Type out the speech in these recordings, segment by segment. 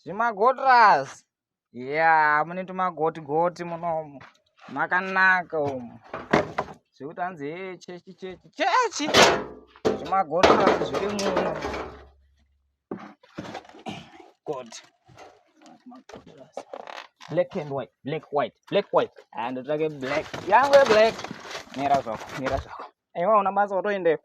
zvimagotras ya mune tumagoti goti munomu makanaka umu zvekuti hanzi he chechi chechi chechi zvimagotras zviri muno god black and white black white black white and ah, ndotsvake black yangu yeblack mira zvako mira zvako Aiwa una basa watoendeyo.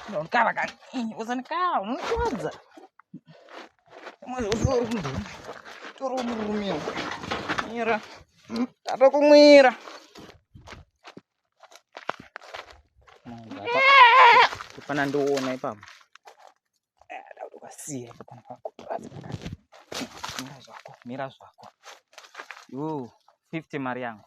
Ndokava kani. Usanikava unokuwadza. Mwana usoro kunduma. Toro murume. Mira. Tatokumwira. Kufana ndoona ipapo. Ukasiya ipapo kana pakutoradza. Mira zvako, mira zvako. Yoo, 50 mari yangu.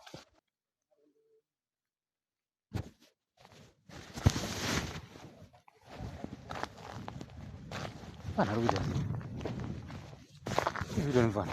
Pana ruja. Hivi ndio nifanya.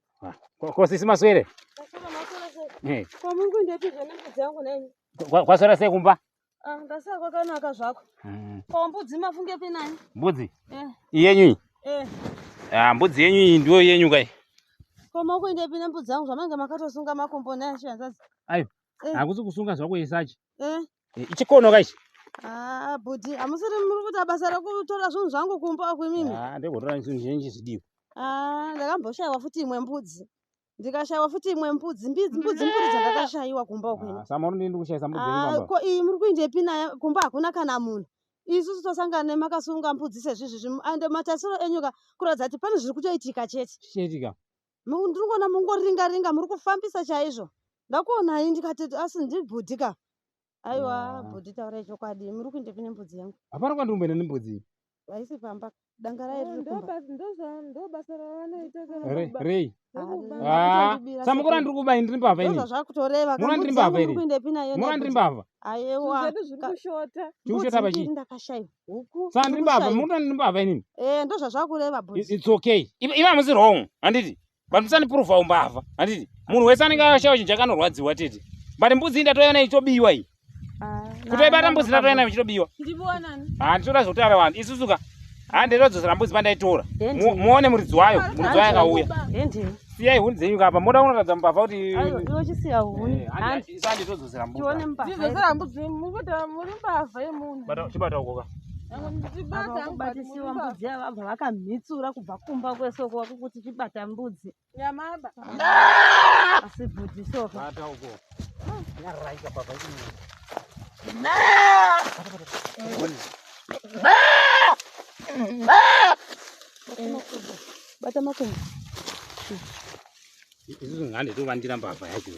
Ko sisi maswere? Eh. Kwa mungu ndeti zvene mbudzi yangu nani? Kwa kwa swera sekumba? Ah, ndasa kwakanaka zvako. Mm. Kwa mbudzi mafunge pe nani? Mbudzi? Eh. Iyenyu iyi? Eh. Ah, mbudzi yenyu iyi ndiyo yenyu kai? Kwa mungu ndeti pe mbudzi yangu zvamange makatosunga makombo naye chianzazi. Ayo. Eh. Hakusi kusunga zvako isachi. eh. eh, chikono ka ichi ah, bhudhi hamusiri muri kuita basa rekutora zvinhu zvangu kumba uku imimi ah, ndekotora zvinhu zvinenji zvidiwa ah, ndakamboshaiwa futi imwe mbudzi ndikashaiwa futi imwe mbudzi mbudzi mbudzi dzandakashaiwa kumba uku ko iyi muri kuindepi naye kumba hakuna kana munhu isusu tosangana nemakasunga mbudzi sezvizvi zvino and matarisiro enyu ka kuratidza kuti pane zviri kutoitika chete ndinongoona mungoringa ringa muri kufambisa chaizvo ndakuonai ndikati asi ndibhudhi ka aiwa ah. bhudhi taurai chokwadi muri kuindepi nembudzi yangu hapana kwandiri kumboenda nembudzi iyi haisi pamba danga raye ah, ririkumbarei ah, samukura ndiri kubai ndiri mbavha inizvazvakutorevamurandiri mbavha iri murandiri mbavha ayewa chikushota pachii ndakashaiwa huku saka ndiri mbavha muri kuti ndiri mbavha inini eh ndozvazvakureva boss it's okay iva hamusi wrong handiti but musanipuruva umbavha handiti munhu wese anenge akashaya chinhu chakanorwadziwa tete but mbudzi ndatoiva nayo ichitobiwa iyi ah, kutoibata mbudzi ndatoiva nayo ichitobiwa ha ah, ndichitoda zvekutaura vanhu isusuka ha ah, ndatodzosera mbudzi pandaitora muone muridzi wayo muridzi wayo akauya siyai huni dzenyu kapa moda kunoratidza mbavha kuti iwe chisiya huni eh, handi isandi todzosera mbavha tione mbavha tidzosera mbudzi mukuti muri mbavha yemunhu bata chibata ukoka kubatisiwa mbudzi yavabva vakamhitsura kubva kumba kwese uko wakukuti chibata mbudzi nyamaba asi bhudhi soka bata uko nyaraika baba ini Bye. bata makumbo isusu ngande tovandira mbavha yacho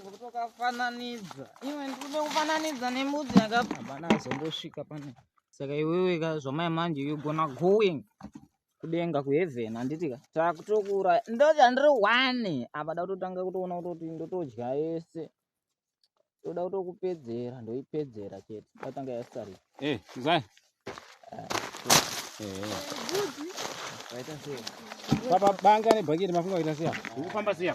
kutokafananidza iwe ndikuda kufananidza nemudzi yakabva bana azombosvika pane saka iwewe ka zvamai manje yogona going kudenga kuheaven handiti ka takutokuura ndochandiri one apa da kutotanga kutoona kutoti ndotodya yese toda kutokupedzera ndoipedzera chete tatanga yasari eh, zai ah, waita sei papa banga nebhaketi mafunga kuita siya ndikufamba siya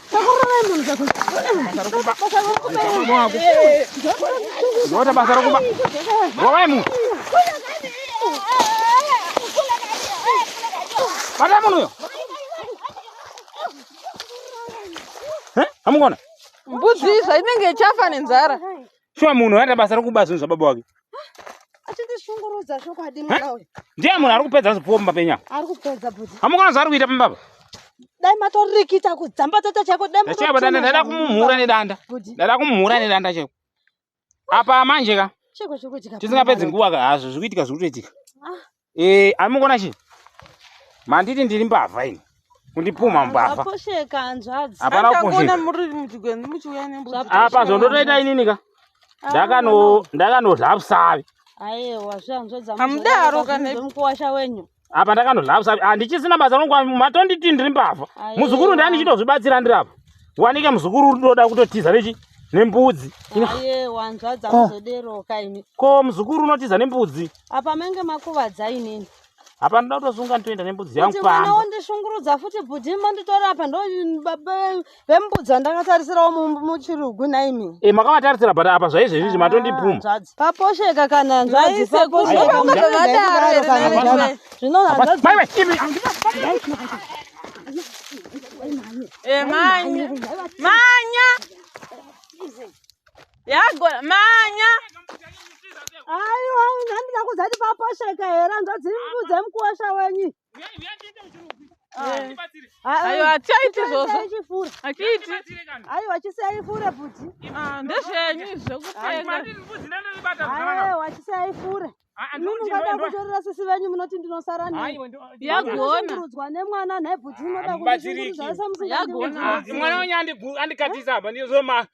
Ndota basa rokuba. Rovai munhu. Bata munhu uyo. Eh? Amukona? Mbudzi izva inenge ichafa nenzara. Shuwa munhu anoita basa rokuba zvinhu zvababa wake. Achindishungurudza chokwadi mwana uyu. Ndiye munhu ari kupedza zvipfuwo mumba penyu apa. Ari kupedza bhudhi. Hamukona zvaari kuita pamba apa. Dai matorikita kudzambatata chaiko dai matorikita. Chaiva danda ndaida kumumhura nedanda. Ndaida kumumhura nedanda chaiko. Apa manje ka. Chiko chikudya. Tisingapedzi nguva ka hazvo zvikuitika zvikutoitika. Ah. Eh, ari mukuona chii? Manditi ndiri mbavha ini. Kundipumha mbavha. Aposheka hanzvadzi. Hapana kuposheka. muri muchigwenzi muchiuya nembudzi. Apa zvondotoita inini ka? Ah, Ndakano ndakanodla busavi. Aiwa zvanzvadzi. Amudaro kana mukuwasha wenyu. Apa ndakanodla busavi. Handichisina basa rongwa matonditi ndiri mbavha. Muzukuru ndani chitozvibatsira ndiri apa. Wanike muzukuru uri ndoda kutotiza nechi? nembudzi. Aye wanzvadza kuzodero kaini. Ko muzukuru unotiza nembudzi. apa menge makuvadza inini apa ndoda kutosunga nditoenda nembudzi yangu kuti mwana wondishungurudza futi bhudhi manditora apa ndo vembudzi vandakatarisirawo muchirugu naimi e eh, makavatarisira but apa zvaizvezvizvi ah, matondibvuma paposheka kana nzvadzi paposheka yagona manya aiwa nandida kuzati paposheka here nzodzi mudze mukosha wenyu ayo hatichaiti izvozvo hatiiti aiwa chisiyai fure bhuti ndezvenyu izvokupfekaaiwa chisiyai fure mungada kutorera sisi venyu munoti ndinosara niyagoonarudzwa nemwana nhai bhuti munoda kuiasemwana wenyu andikatisa apa ndizoma